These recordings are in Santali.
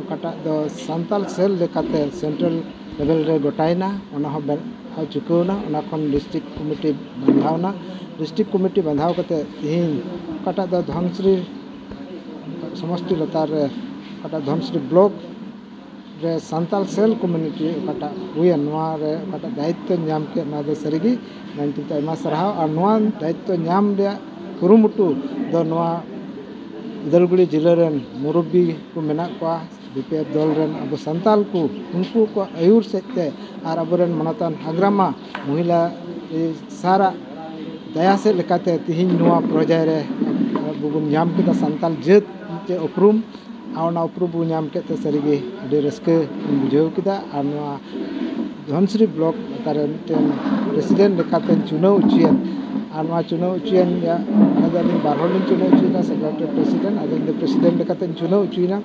ᱚᱠᱟᱴᱟᱜ ᱫᱚ ᱥᱟᱱᱛᱟᱲ ᱥᱮᱞ ᱞᱮᱠᱟᱛᱮ ᱥᱮᱱᱴᱨᱟᱞ ᱞᱮᱵᱮᱞ ᱨᱮ ᱜᱚᱴᱟᱭᱮᱱᱟ ᱚᱱᱟ ᱦᱚᱸ ᱵᱮᱱᱟᱣ ᱪᱩᱠᱟᱹᱣ ᱮᱱᱟ ᱚᱱᱟ ᱠᱷᱚᱱ ᱰᱤᱥᱴᱤᱠ ᱠᱚᱢᱤᱴᱤ ᱵᱟᱸᱫᱷᱟᱣ ᱮᱱᱟ ᱰᱤᱥᱴᱤᱠ ᱠᱚᱢᱤᱴᱤ ᱵᱟᱸᱫᱷᱟᱣ ᱠᱟᱛᱮᱫ ᱛᱮᱦᱤᱧ ᱚᱠᱟᱴᱟᱜ ᱫᱚ ᱫᱷᱚᱱᱥᱨᱤ ᱥᱚᱢᱚᱥᱴᱤ ᱞᱟᱛᱟᱨ ᱨᱮ ᱚᱠᱟᱴᱟᱜ ᱫᱷᱚᱱᱥᱨᱤ ᱵᱞᱚᱠ ᱨᱮ ᱥᱟᱱᱛᱟᱲ ᱥᱮᱞ ᱠᱚᱢᱤᱴᱤ ᱚᱠᱟᱴᱟᱜ ᱦᱩᱭᱮᱱ ᱱᱚᱣᱟᱨᱮ ᱚᱠᱟᱴᱟᱜ ᱫᱟᱭᱤᱛᱛᱚᱧ ᱧᱟᱢ ᱠᱮᱫ ᱱᱚᱣᱟᱫᱚ ᱥᱟᱹᱨᱤᱜᱮ ᱟᱭᱢᱟ ᱥᱟᱨᱦᱟᱣ ᱟᱨ ᱱᱚᱣᱟ ᱫᱟᱭᱤᱛᱛᱚ ᱧᱟᱢ ᱨᱮᱭᱟᱜ ᱠᱩᱨᱩᱢᱩᱴᱩ ᱫᱚ ᱱᱚᱣᱟ ᱩᱫᱟᱞᱜᱩᱲᱤ ᱡᱮᱞᱟ ᱨᱮᱱ ᱢᱩᱨᱚᱵᱵᱤ ᱠᱚ ᱢᱮᱱᱟᱜ ᱠᱚᱣᱟ ᱵᱤ ᱯᱤ ᱮᱯᱷ ᱫᱚᱞ ᱨᱮᱱ ᱟᱵᱚ ᱥᱟᱱᱛᱟᱲ ᱠᱚ ᱩᱱᱠᱩ ᱠᱚᱣᱟᱜ ᱟᱹᱭᱩᱨ ᱥᱮᱫ ᱛᱮ ᱟᱨ ᱟᱵᱚ ᱨᱮᱱ ᱢᱟᱱᱚᱛᱟᱱ ᱦᱟᱜᱽᱨᱟᱢᱟ ᱢᱚᱦᱤᱞᱟ ᱥᱟᱨᱟᱜ ᱫᱟᱭᱟ ᱥᱮᱫ ᱞᱮᱠᱟᱛᱮ ᱛᱮᱦᱮᱧ ᱱᱚᱣᱟ ᱯᱚᱨᱡᱟᱭ ᱨᱮ ᱟᱵᱚ ᱵᱚᱱ ᱧᱟᱢ ᱠᱮᱫᱟ ᱥᱟᱱᱛᱟᱲ ᱡᱟᱹᱛ ᱢᱤᱫᱴᱮᱱ ᱩᱯᱨᱩᱢ ᱟᱨ ᱚᱱᱟ ᱩᱯᱨᱩᱢ ᱵᱚᱱ ᱧᱟᱢ ᱠᱮᱫ ᱛᱮ ᱥᱟᱹᱨᱤᱜᱮ ᱟᱹᱰᱤ ᱨᱟᱹᱥᱠᱟᱹ ᱵᱚᱱ ᱵᱩᱡᱷᱟᱹᱣ ᱠᱮᱫᱟ ᱟᱨ ᱱᱚᱣᱟ ᱫᱷᱚᱱᱥᱤᱨᱤ ᱵᱞᱚᱠ ᱚᱠᱟᱨᱮ ᱢᱤᱫᱴᱮᱱ ᱯᱨᱮᱥᱤᱰᱮᱱᱴ ᱞᱮᱠᱟᱛᱮ ᱪᱩᱱᱟᱹᱣ ᱦᱚᱪᱚᱭᱮᱱ ᱟᱨ ᱱᱚᱣᱟ ᱪᱩᱱᱟᱹᱣ ᱦᱚᱪᱚᱭᱮᱱ ᱨᱮᱭᱟᱜ ᱵᱟᱨ ᱦᱚᱲ ᱞᱤᱧ ᱪᱩᱱᱟᱹᱣ ᱦᱚᱪᱚᱭᱮᱱᱟ ᱥᱮᱠᱨᱮᱴᱟᱨᱤ ᱟᱨ ᱯᱨᱮᱥᱤᱰᱮᱱᱴ ᱟᱫᱚ ᱤᱧ ᱫᱚ ᱯᱨᱮᱥᱤᱰᱮᱱᱴ ᱞᱮᱠᱟᱛᱤᱧ ᱪᱩᱱᱟᱹᱣ ᱦᱚᱪᱚᱭᱮᱱᱟ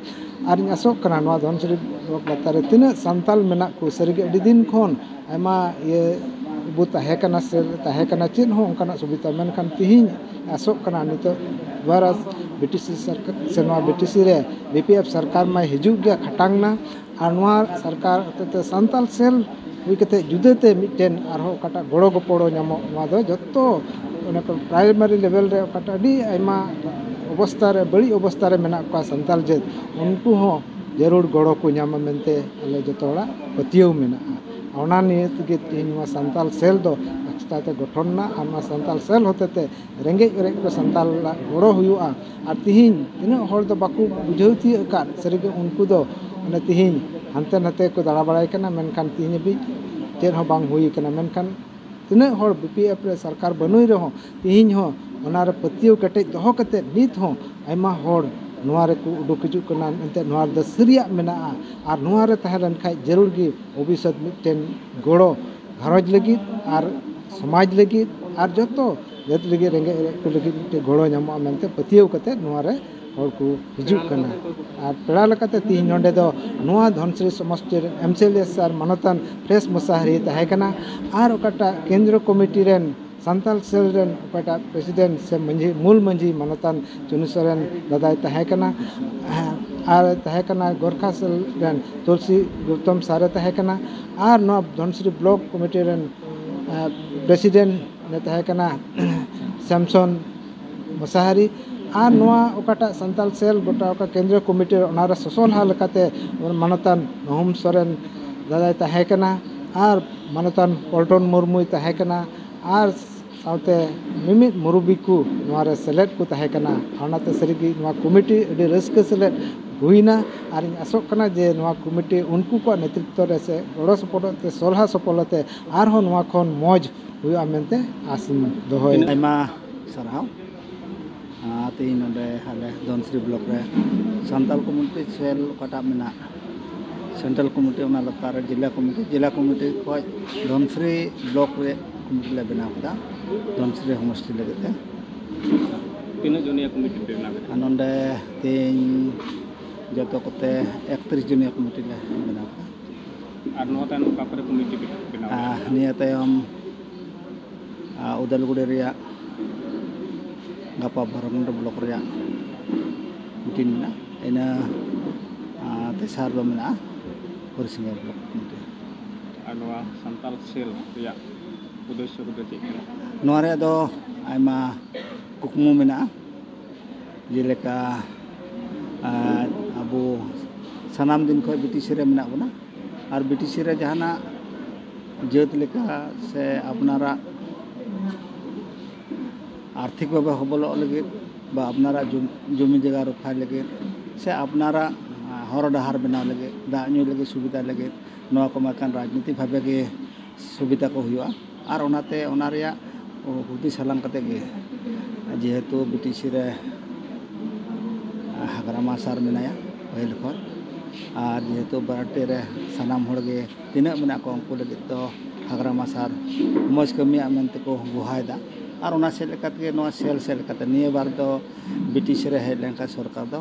ᱟᱨᱤᱧ ᱟᱥᱚᱜ ᱠᱟᱱᱟ ᱱᱚᱣᱟ ᱫᱷᱚᱱᱥᱤᱨᱤ ᱵᱞᱚᱠ ᱞᱟᱛᱟᱨ ᱨᱮ ᱛᱤᱱᱟᱹᱜ ᱥᱟᱱᱛᱟᱲ ᱢᱮᱱᱟᱜ ᱠᱚ ᱥᱟᱹᱨᱤᱜᱮ ᱟᱹᱰᱤ ᱫᱤᱱ ᱠᱷᱚᱱ ᱟᱭᱢᱟ ᱤᱭᱟᱹ ᱵᱚ ᱛᱟᱦᱮᱸ ᱠᱟᱱᱟ ᱥᱮ ᱛᱟᱦᱮᱸ ᱠᱟᱱᱟ ᱪᱮᱫ ᱦᱚᱸ ᱚᱱᱠᱟᱱᱟᱜ ᱥᱩᱵᱤᱫᱷᱟ ᱢᱮᱱᱠᱷᱟᱱ ᱛᱮᱦᱤᱧ ᱟᱥᱚᱜ ᱠᱟᱱᱟ ᱱᱤᱛᱚᱜ ᱵᱷᱟᱨᱚᱛ ᱵᱨᱤᱴᱤᱥᱮ ᱥᱚᱨᱠᱟᱨ ᱥᱮ ᱱᱚᱣᱟ ᱵᱨᱤᱴᱤᱥ ᱨᱮ ᱵᱤ ᱯᱤ ᱮᱯᱷ ᱥᱚᱨᱠᱟᱨ ᱢᱟᱭ ᱦᱤᱡᱩᱜ ᱜᱮ ᱠᱷᱟᱴᱟᱝ ᱮᱱᱟ ᱟᱨ ᱱᱚᱣᱟ ᱥᱚᱨᱠᱟᱨ ᱦᱚᱛᱮᱡ ᱛᱮ ᱥᱟᱱᱛᱟᱲ ᱥᱮᱞ ᱦᱩᱭ ᱠᱟᱛᱮ ᱡᱩᱫᱟᱹ ᱛᱮ ᱢᱤᱫᱴᱮᱱ ᱟᱨᱦᱚᱸ ᱚᱠᱟᱴᱟᱜ ᱜᱚᱲᱚ ᱜᱚᱯᱚᱲᱚ ᱧᱟᱢᱚᱜ ᱱᱚᱣᱟ ᱫᱚ ᱡᱚᱛᱚ ᱚᱱᱟ ᱠᱚ ᱯᱨᱟᱭᱢᱟᱨᱤ ᱞᱮᱵᱮᱞ ᱨᱮ ᱚᱠᱟᱴᱟᱜ ᱟᱹᱰᱤ ᱟᱭᱢᱟ ᱚᱵᱚᱥᱛᱷᱟ ᱨᱮ ᱵᱟᱹᱲᱤᱡ ᱚᱵᱚᱥᱛᱷᱟ ᱨᱮ ᱢᱮᱱᱟᱜ ᱠᱚᱣᱟ ᱥᱟᱱᱛᱟᱲ ᱡᱟᱹᱛ ᱩᱱᱠᱩ ᱦᱚᱸ ᱡᱟᱹᱨᱩᱲ ᱜᱚᱲᱚ ᱠᱚ ᱧᱟᱢᱟ ᱢᱮᱱᱛᱮ ᱟᱞᱮ ᱡᱚᱛᱚ ᱦᱚᱲᱟᱜ ᱯᱟᱹᱛᱭᱟᱹᱣ ᱢᱮᱱᱟᱜᱼᱟ ᱚᱱᱟ ᱱᱤᱭᱮ ᱛᱮᱜᱮ ᱛᱮᱦᱮᱧ ᱱᱚᱣᱟ ᱥᱟᱱᱛᱟᱲ ᱥᱮᱞ ᱫᱚ ᱮᱠᱥᱴᱨᱟ ᱛᱮ ᱜᱚᱴᱷᱚᱱ ᱮᱱᱟ ᱟᱨ ᱱᱚᱣᱟ ᱥᱟᱱᱛᱟᱲ ᱥᱮᱞ ᱦᱚᱛᱮ ᱛᱮ ᱨᱮᱸᱜᱮᱡ ᱚᱨᱮᱡ ᱠᱚ ᱥᱟᱱᱛᱟᱲ ᱦᱚᱲᱟᱜ ᱜᱚᱲᱚ ᱦᱩᱭᱩᱜᱼᱟ ᱟᱨ ᱛᱮᱦᱮᱧ ᱛᱤᱱᱟᱹᱜ ᱦᱚᱲ ᱫᱚ ᱵᱟᱠᱚ ᱵᱩᱡᱷᱟᱹᱣ ᱛᱤᱭᱳᱜ ᱟᱠᱟᱫ ᱥᱟᱹᱨᱤᱜᱮ ᱩᱱᱠᱩ ᱫᱚ ᱚᱱᱮ ᱛᱮᱦᱮᱧ ᱦᱟᱱᱛᱮ ᱱᱟᱛᱮ ᱠᱚ ᱫᱟᱬᱟ ᱵᱟᱲᱟᱭ ᱠᱟᱱᱟ ᱢᱮᱱᱠᱷᱟᱱ ᱛᱮᱦᱮᱧ ᱦᱟᱹᱵᱤᱡ ᱪᱮᱫ ᱦᱚᱸ ᱵᱟᱝ ᱦᱩᱭ ᱠᱟᱱᱟ ᱢᱮᱱᱠᱷᱟᱱ ᱛᱤᱱᱟᱹᱜ ᱦᱚᱲ ᱵᱤ ᱯᱤ ᱮᱯᱷ ᱨᱮ ᱥᱚᱨᱠᱟᱨ ᱵᱟᱹᱱᱩᱭ ᱨᱮᱦᱚᱸ ᱛᱮᱦᱮᱧ ᱦᱚᱸ ᱚᱱᱟ ᱨᱮ ᱯᱟᱹᱛᱭᱟᱹᱣ ᱠᱮᱴᱮᱡ ᱫᱚᱦᱚ ᱠᱟᱛᱮᱫ ᱱᱤᱛ ᱦᱚᱸ ᱟᱭᱢᱟ ᱦᱚᱲ ᱱᱚᱣᱟ ᱨᱮᱠᱚ ᱩᱰᱩᱠ ᱦᱤᱡᱩᱜ ᱠᱟᱱᱟ ᱮᱱᱛᱮᱫ ᱱᱚᱣᱟ ᱨᱮᱫᱚ ᱥᱟᱹᱨᱤᱭᱟᱜ ᱢᱮᱱᱟᱜᱼᱟ ᱟᱨ ᱱᱚᱣᱟ ᱨᱮ ᱛᱟᱦᱮᱸ ᱞᱮᱱᱠᱷᱟᱱ ᱡᱟᱹᱨᱩᱲ ᱜᱮ ᱵᱷᱚᱵᱤᱥᱥᱚᱛ ᱢᱤᱫᱴᱮᱱ ᱜᱚᱲᱚ ᱜᱷᱟᱨᱚᱸᱡᱽ ᱞᱟᱹᱜᱤᱫ ᱟᱨ ᱥᱚᱢᱟᱡᱽ ᱞᱟᱹᱜᱤᱫ ᱟᱨ ᱡᱚᱛᱚ ᱡᱟᱹᱛ ᱞᱟᱹᱜᱤᱫ ᱨᱮᱸᱜᱮᱡ ᱚᱨᱮᱡ ᱠᱚ ᱞᱟᱹᱜᱤᱫ ᱢᱤᱫᱴᱮᱱ ᱜᱚᱲᱚ ᱧᱟᱢᱚᱜᱼᱟ ᱢᱮᱱᱛᱮ ᱯᱟᱹᱛᱭᱟᱹᱣ ᱠᱟᱛᱮᱫ ᱱᱚᱣᱟ ᱨᱮ ᱦᱚᱲ ᱠᱚ ᱦᱤᱡᱩᱜ ᱠᱟᱱᱟ ᱟᱨ ᱯᱮᱲᱟ ᱞᱮᱠᱟᱛᱮ ᱛᱮᱦᱮᱧ ᱱᱚᱰᱮ ᱫᱚ ᱱᱚᱣᱟ ᱫᱷᱚᱱᱥᱤᱨᱤ ᱥᱚᱢᱚᱥᱛᱤ ᱨᱮᱱ ᱮᱢ ᱥᱤ ᱮᱞ ᱮ ᱥᱟᱨ ᱢᱟᱱᱚᱛᱟᱱ ᱯᱷᱨᱮᱥ ᱢᱚᱥᱟᱦᱟᱨᱤ ᱛᱟᱦᱮᱸ ᱠᱟᱱᱟ ᱟᱨ ᱚᱠᱟᱴᱟᱜ ᱠᱮᱱᱫᱨᱚ ᱠᱚᱢᱤᱴᱤ ᱨᱮᱱ ᱥᱟᱱᱛᱟᱲ ᱥᱮᱞ ᱨᱮᱱ ᱚᱠᱚᱭᱴᱟᱜ ᱯᱨᱮᱥᱤᱰᱮᱱᱴ ᱥᱮ ᱢᱟᱹᱡᱷᱤ ᱢᱩᱞ ᱢᱟᱹᱡᱷᱤ ᱢᱟᱱᱚᱛᱟᱱ ᱪᱩᱱᱩ ᱥᱚᱨᱮᱱ ᱫᱟᱫᱟᱭ ᱛᱟᱦᱮᱸ ᱠᱟᱱᱟ ᱟᱨ ᱛᱟᱦᱮᱸ ᱠᱟᱱᱟᱭ ᱜᱚᱨᱠᱷᱟ ᱥᱮᱞ ᱨᱮᱱ ᱛᱩᱞᱥᱤ ᱜᱳᱣᱛᱚᱢ ᱥᱟᱨ ᱮ ᱛᱟᱦᱮᱸ ᱠᱟᱱᱟ ᱟᱨ ᱱᱚᱣᱟ ᱫᱷᱚᱱᱥᱤᱨᱤ ᱵᱞᱚᱠ ᱠᱚᱢᱤᱴᱤ ᱨᱮᱱ ᱯᱨᱮᱥᱤᱰᱮᱱᱴ ᱮ ᱛᱟᱦᱮᱸ ᱠᱟᱱᱟ ᱥᱮᱢᱥᱚᱱ ᱢᱚᱥᱟᱦᱟᱨᱤ ᱟᱨ ᱱᱚᱣᱟ ᱚᱠᱟᱴᱟᱜ ᱥᱟᱱᱛᱟᱲ ᱥᱮᱞ ᱜᱚᱴᱟ ᱚᱠᱟ ᱠᱮᱱᱫᱨᱤᱭᱚ ᱠᱚᱢᱤᱴᱤ ᱚᱱᱟᱨᱮ ᱥᱚᱥᱚᱞᱦᱟ ᱞᱮᱠᱟᱛᱮ ᱢᱟᱱᱚᱛᱟᱱ ᱧᱩᱦᱩᱢ ᱥᱚᱨᱮᱱ ᱫᱟᱫᱟᱭ ᱛᱟᱦᱮᱸ ᱠᱟᱱᱟ ᱟᱨ ᱢᱟᱱᱚᱛᱟᱱ ᱯᱚᱞᱴᱚᱱ ᱢᱩᱨᱢᱩᱭ ᱛᱟᱦᱮᱸ ᱠᱟᱱᱟ ᱟᱨ ᱥᱟᱶᱛᱮ ᱢᱤᱢᱤᱫ ᱢᱩᱨᱩᱵᱤ ᱠᱚ ᱱᱚᱣᱟᱨᱮ ᱥᱮᱞᱮᱫ ᱠᱚ ᱛᱟᱦᱮᱸ ᱠᱟᱱᱟ ᱚᱱᱟᱛᱮ ᱥᱟᱹᱨᱤᱜᱮ ᱱᱚᱣᱟ ᱠᱚᱢᱤᱴᱤ ᱟᱹᱰᱤ ᱨᱟᱹᱥᱠᱟᱹ ᱥᱮᱞᱮᱫ ᱦᱩᱭᱱᱟ ᱟᱨᱤᱧ ᱟᱥᱚᱜ ᱠᱟᱱᱟ ᱡᱮ ᱱᱚᱣᱟ ᱠᱚᱢᱤᱴᱤ ᱩᱱᱠᱩ ᱠᱚᱣᱟᱜ ᱱᱮᱛᱨᱤᱛᱛᱚ ᱨᱮ ᱥᱮ ᱜᱚᱲᱚ ᱥᱚᱯᱚᱦᱚᱫ ᱛᱮ ᱥᱚᱞᱦᱟ ᱥᱚᱯᱚᱞ ᱟᱛᱮᱜ ᱟᱨᱦᱚᱸ ᱱᱚᱣᱟ ᱠᱷᱚᱱ ᱢᱚᱡᱽ ᱦᱩᱭᱩᱜᱼᱟ ᱢᱮᱱᱛᱮ ᱟᱥᱤᱧ ᱫᱚᱦᱚᱭᱮᱫᱟ ᱟᱭᱢᱟ ᱥᱟᱨᱦᱟᱣ ᱛᱮᱦᱮᱧ ᱱᱚᱰᱮ ᱟᱞᱮ ᱫᱷᱚᱱᱥᱨᱤ ᱵᱞᱚᱠ ᱨᱮ ᱥᱟᱱᱛᱟᱞ ᱠᱚᱢᱤᱴᱤ ᱥᱮᱞ ᱚᱠᱟᱴᱟᱜ ᱢᱮᱱᱟᱜ ᱥᱮᱱᱴᱨᱟᱞ ᱠᱚᱢᱤᱴᱤ ᱚᱱᱟ ᱞᱟᱛᱟᱨ ᱨᱮ ᱡᱮᱞᱟ ᱠᱚᱢᱤᱴᱤ ᱡᱮᱞᱟ ᱠᱚᱢᱤᱴᱤ ᱠᱷᱚᱱ ᱫᱷᱚᱱᱥᱨᱤ ᱵᱞᱚᱠ ᱨᱮ ᱠᱚᱢᱤᱴᱤ ᱞᱮ ᱵᱮᱱᱟᱣ ᱠᱮᱫᱟ ᱫᱷᱚᱱᱥᱨᱤ ᱥᱚᱢᱚᱥᱴᱤ ᱞᱟᱹᱜᱤᱫ ᱛᱮ ᱛᱤᱱᱟᱹᱜ ᱡᱚᱱᱤᱭᱟ ᱠᱚᱢᱤᱴᱤ ᱯᱮ ᱵᱮᱱᱟᱣ ᱠᱮᱫᱟ ᱱᱚᱰᱮ ᱛᱮᱦᱮᱧ ᱡᱚᱛᱚ ᱠᱚᱛᱮ ᱮᱠᱛᱨᱤᱥ ᱡᱚᱱᱤᱭᱟ ᱠᱚᱢᱤᱴᱤ ᱞᱮ ᱵᱮᱱᱟᱣ ᱠᱮᱫᱟ ᱟᱨ ᱱᱚᱣᱟ ᱛᱟᱭᱱᱚᱢ ᱚᱠᱟ ᱠᱚᱨᱮ ᱠᱚᱢᱤᱴᱤ ᱯᱮ ᱵᱮᱱᱟᱣ ᱱᱤᱭᱟᱹ ᱛᱟᱭᱚᱢ ᱩᱫᱟᱞᱜᱩᱲᱤ ᱨᱮᱭᱟᱜ ᱜᱟᱯᱟ ᱵᱷᱚᱨᱚᱱᱰᱩ ᱵᱞᱚᱠ ᱨᱮᱭᱟᱜ ᱢᱤᱴᱤᱝ ᱢᱮᱱᱟᱜᱼᱟ ᱤᱱᱟᱹ ᱛᱮᱥᱟᱨ ᱫᱚ ᱢᱮᱱᱟᱜᱼᱟ ᱦᱚᱨᱤᱥᱤᱝᱜᱟ ᱵᱞᱚᱠ ᱢᱤᱴᱤᱝ ᱟᱨ ᱱᱚᱣᱟ ᱥᱟᱱᱛᱟᱞ ᱥᱮᱞ ᱨᱮᱭᱟᱜ ᱩᱫᱽᱫᱮᱥᱥᱚ ᱠᱚᱫᱚ ᱪᱮᱫ ᱠᱟᱱᱟ ᱱᱚᱣᱟ ᱨᱮᱭᱟᱜ ᱫᱚ ᱟᱭᱢᱟ ᱠᱩᱠᱢᱩ ᱢᱮᱱᱟᱜᱼᱟ ᱡᱮᱞᱮᱠᱟ ᱟᱵᱚ ᱥᱟᱱᱟᱢ ᱫᱤᱱ ᱠᱷᱚᱱ ᱵᱨᱤᱴᱤᱥ ᱨᱮ ᱢᱮᱱᱟᱜ ᱵᱚᱱᱟ ᱟᱨ ᱵᱨᱤᱴᱤᱥ ᱨᱮ ᱡᱟᱦᱟᱱᱟᱜ ᱡᱟᱹᱛ ᱞᱮᱠᱟ ᱥᱮ ᱟᱯᱱᱟᱨᱟᱜ ᱟᱨᱛᱷᱤᱠ ᱵᱷᱟᱵᱮ ᱦᱚᱵᱚᱞᱚᱜ ᱞᱟᱹᱜᱤᱫ ᱵᱟ ᱟᱯᱱᱟᱨᱟᱜ ᱡᱚᱢᱤ ᱡᱟᱭᱜᱟ ᱨᱚᱯᱷᱟᱭ ᱞᱟᱹᱜᱤᱫ ᱥᱮ ᱟᱯᱱᱟᱨᱟᱜ ᱦᱚᱨ ᱰᱟᱦᱟᱨ ᱵᱮᱱᱟᱣ ᱞᱟᱹᱜᱤᱫ ᱫᱟᱜ ᱧᱩ ᱞᱟᱹᱜᱤᱫ ᱥᱩᱵᱤᱫᱷᱟ ᱞᱟᱹᱜᱤᱫ ᱱᱚᱣᱟ ᱠᱚ ᱢᱮᱱᱠᱷᱟᱱ ᱨᱟᱡᱽᱱᱤᱛᱤ ᱵᱷᱟᱵᱮ ᱜᱮ ᱥᱩᱵᱤᱫᱷᱟ ᱠᱚ ᱦᱩᱭᱩᱜᱼᱟ ᱟᱨ ᱚᱱᱟᱛᱮ ᱚᱱᱟ ᱨᱮᱭᱟᱜ ᱦᱩᱫᱤᱥ ᱦᱟᱞᱟᱝ ᱠᱟᱛᱮᱫ ᱜᱮ ᱡᱮᱦᱮᱛᱩ ᱵᱤ ᱴᱤ ᱥᱤ ᱨᱮ ᱦᱟᱜᱽᱨᱟᱢᱟ ᱥᱟᱨ ᱢᱮᱱᱟᱭᱟ ᱯᱟᱹᱦᱤᱞ ᱠᱷᱚᱱ ᱟᱨ ᱡᱮᱦᱮᱛᱩ ᱵᱟᱨᱚᱴᱤ ᱨᱮ ᱥᱟᱱᱟᱢ ᱦᱚᱲᱜᱮ ᱛᱤᱱᱟᱹᱜ ᱢᱮᱱᱟᱜ ᱠᱚᱣᱟ ᱩᱱᱠᱩ ᱞᱟᱹᱜᱤᱫ ᱫᱚ ᱦᱟᱜᱽᱨᱟ ᱢᱟᱥᱟᱨ ᱢᱚᱡᱽ ᱠᱟᱹᱢᱤᱭᱟᱜ ᱢᱮᱱᱛᱮ ᱠᱚ ᱜᱚᱦᱟᱭᱫᱟ ᱟᱨ ᱚᱱᱟ ᱥᱮᱫ ᱞᱮᱠᱟ ᱛᱮᱜᱮ ᱱᱚᱣᱟ ᱥᱮᱞ ᱥᱮᱫ ᱞᱮᱠᱟᱛᱮ ᱱᱤᱭᱟᱹ ᱵᱟᱨ ᱫᱚ ᱵᱨᱤᱴᱤᱥ ᱨᱮ ᱦᱮᱡ ᱞᱮᱱᱠᱷᱟᱱ ᱥᱚᱨᱠᱟᱨ ᱫᱚ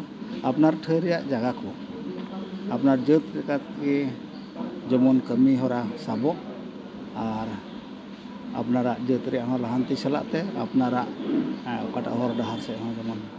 ᱟᱯᱱᱟᱨ ᱴᱷᱟᱹᱭ ᱨᱮᱭᱟᱜ ᱡᱟᱭᱜᱟ ᱠᱚ ᱟᱯᱱᱟᱨ ᱡᱟᱹᱛ ᱞᱮᱠᱟ ᱛᱮᱜᱮ ᱡᱮᱢᱚᱱ ᱠᱟᱹᱢᱤ ᱦᱚᱨᱟ ᱥᱟᱵᱚᱜ ᱟᱨ ᱟᱯᱱᱟᱨᱟᱜ ᱡᱟᱹᱛ ᱨᱮᱭᱟᱜ ᱦᱚᱸ ᱞᱟᱦᱟᱱᱛᱤ ᱥᱟᱞᱟᱜ ᱛᱮ ᱟᱯᱱᱟᱨᱟᱜ ᱚᱠᱟᱴᱟᱜ ᱦᱚᱨ ᱰᱟᱦᱟᱨ ᱥᱮᱫ ᱦᱚᱸ ᱡᱮᱢᱚᱱ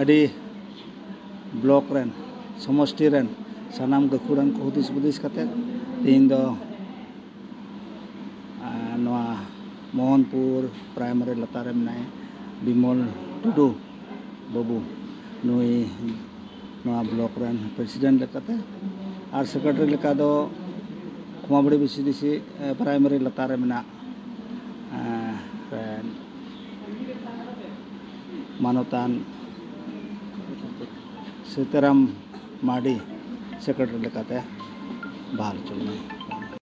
ᱟᱹᱰᱤ ᱵᱞᱚᱠ ᱨᱮᱱ ᱥᱚᱢᱚᱥᱴᱤ ᱨᱮᱱ ᱥᱟᱱᱟᱢ ᱜᱟᱹᱠᱷᱩᱲᱟᱱ ᱠᱚ ᱦᱩᱫᱤᱥ ᱦᱩᱫᱤᱥ ᱠᱟᱛᱮ ᱛᱮᱦᱮᱧ ᱫᱚ ᱱᱚᱣᱟ ᱢᱳᱦᱚᱱᱯᱩᱨ ᱯᱨᱟᱭᱢᱟᱨᱤ ᱞᱟᱛᱟᱨ ᱨᱮ ᱢᱮᱱᱟᱭ ᱵᱤᱢᱚᱞ ᱴᱩᱰᱩ ᱵᱟᱹᱵᱩ ᱱᱩᱭ ᱱᱚᱣᱟ ᱵᱞᱚᱠ ᱨᱮᱱ ᱯᱨᱮᱥᱤᱰᱮᱱᱴ ᱞᱮᱠᱟᱛᱮ ᱟᱨ ᱥᱮᱠᱨᱮᱴᱟᱨᱤ ᱞᱮᱠᱟ ᱫᱚ ᱠᱷᱚᱢᱟᱵᱟᱲᱤ ᱵᱷᱤᱥᱤᱰᱤᱥᱤ ᱯᱨᱟᱭᱢᱟᱨᱤ ᱞᱟᱛᱟᱨ ᱨᱮ ᱢᱮᱱᱟᱜ ᱢᱟᱱᱚᱛᱟᱱ ᱥᱤᱛᱟᱨᱟᱢ ᱢᱟᱨᱰᱤ ᱥᱮᱠᱨᱮᱴᱟᱨᱤ ᱞᱮᱠᱟᱛᱮ ᱵᱟᱦᱟᱞ ᱦᱚᱪᱚ ᱞᱮᱱᱟᱭ